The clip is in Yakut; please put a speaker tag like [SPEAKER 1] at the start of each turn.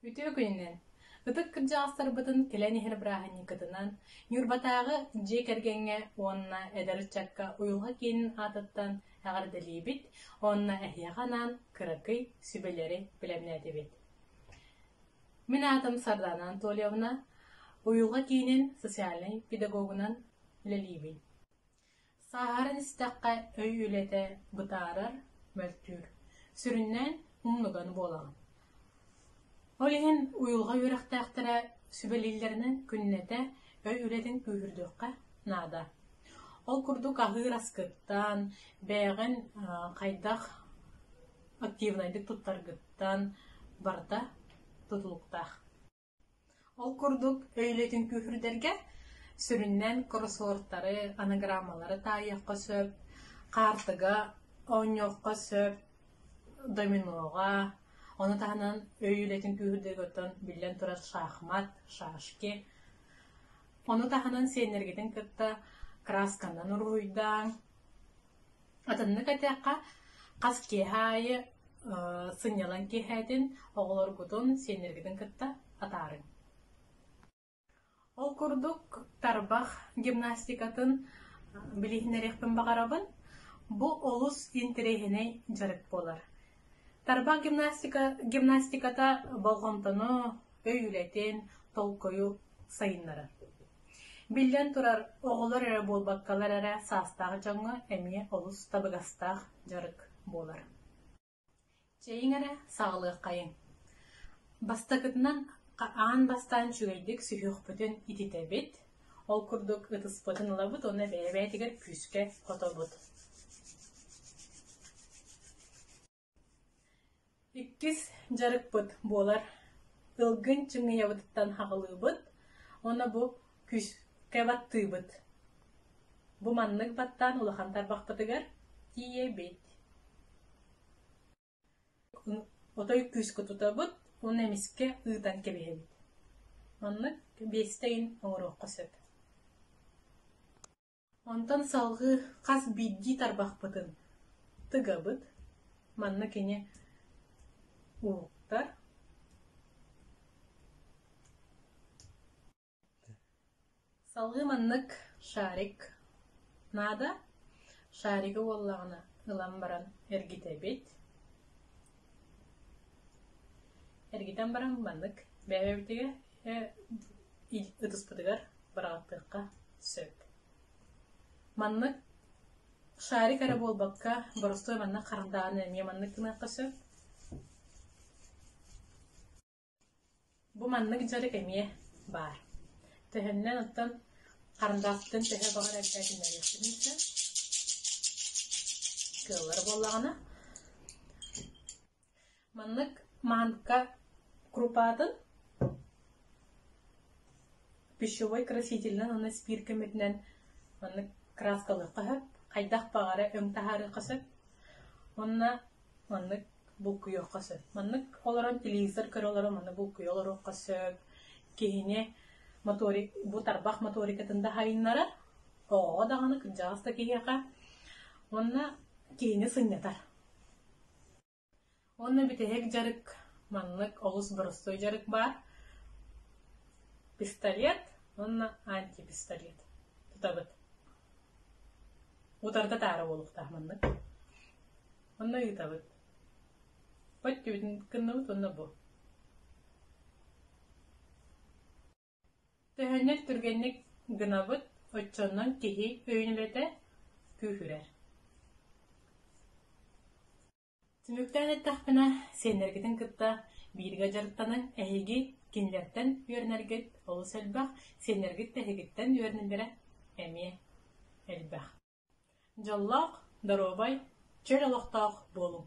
[SPEAKER 1] Үтүө күнүнэн! Ытык кырдьаҕастарбытын кэлэн иһэр бырааһынньыкытынан Ньурбатааҕы дьиэ кэргэҥҥэ уонна эдэр ыччакка уйулҕа киинин аатыттан эҕэрдэлиибит уонна эһиэхэ анаан кыракый сүбэлэри бэлэмнээтибит. Мин аатым Сардана Анатольевна, уйулҕа киинин социальнай педагогунан үлэлиибин. Сааһыран истэххэ өй үлэтэ бытаарар, мөлтүүр, сүрүннээн умнуган буолаҕын. Ол иһин уйулҕа үөрэхтээхтэрэ сүбэлииллэринэн күннэтэ өй үлэтин күүһүрдүөххэ наада. Ол курдук аһыыр аскыттан, бэйэҕин хайдах активнайдык туттаргыттан барыта тутулуктаах. Ол курдук өйүлэтин күүһүрдэргэ сүрүннээн кроссвордтары, анаграммалары таайыахха сөп, хаартыга оонньуохха сөп, доминоҕа, ону таһынан өй үлэтин күүһүрдэригиттэн биллэн турар шахмат, шашки, ону таһынан сиэннэргитин кытта красканан уруһуйдааҥ, Атыннык этиэххэ, хас киэһэ аайы сынньалаҥ киэһээтин оҕолоргутун, сиэннэргитин кытта атаарыҥ. Ол курдук тарбах гимнастикатын билиһиннэриэхпин баҕарабын. Бу олус интэриэһинэй дьарык буолар. Тарбах гимнастика гимнастиката болҕомтону өйүлэтин, толкуйу сайыннарар. Биллэн турар, оҕолор эрэ буолбаккалар эрэ саастаах дьоҥҥо эмиэ олус табыгастаах дьарык буолар. Чэйиҥ эрэ саҕалыаххайыҥ. Бастакытынан аан бастаан үчүгэйдик сүһүөхпүтүн ититэбит, ол курдук ытыспытын ылабыт уонна бэйэбээтигэр күүскэ хотобут. Иккис дьарыкпыт буолар тылгын чыҥыйабытыттан хаҕылыыбыт уонна бу күүскэ баттыыбыт. Бу маннык баттаан улахан тарбахпытыгар тиийэбит. Отой күүскэ туtabыт уонна эмискэ ыытан кэбиһэбит. Маннык биэстэ ыйын оҥоруохха сөп. Онтон салгыы хас биирдии тарбахпытын тыгабыт. Манна кини уһуктар. Салгыы маннык шарик наада. Шарига буоллаҕына ылан баран эргитэбит. Эргитэн баран маннык бэйэбитигэ ытыспытыгар быраҕаттыахха сөп. Маннык шарик эрэ буолбакка, боростуой маннык хардааны эмиэ маннык гыныахха сөп. Бу маннык дьарык эмиэ баар. Төһөннөн оттон харандаастыын төһө баҕар элбээтиннэриэхпитин сөп. Кыаллар буоллаҕына, Маннык манка крупатын пищевой красительынан уонна спирт көмөтүнэн маннык краскалыахха сөп, хайдах баҕара өҥ таһаарыахха сөп. Уонна маннык булкуйуохха сөп. Маннык олорон телевизор көрө олорон маннык булкуйа олоруохха сөп. Киһини моторик бу тарбах моторикатын даһайыннара, оҕоҕо даҕаны кырдьаҕас да киһиэхэ уонна киһини сынньатар. Уонна бүтэһик дьарык маннык олус боростуой дьарык баар: пистолет уонна антипистолет тутабыт. Утарыта таара буолуохтаах маннык. Уонна ыытабыт. Бу өттүбүтүн гынныбыт уонна бу. Төһөннөр түргэнник гынабыт, оччонон киһи өйүнүбэтэ күүһүрэр Түмүктээн эттэхпинэ, сиэннэргитин кытта бииргэ дьарыктанан, эһиги кинилэртэн үөрэнэргит олус элбэх, сиэннэргит эһигиттэн үөрэнэллэрэ эмиэ элбэх. Дьоллоох, доруобай, чөл олохтоох буолуҥ!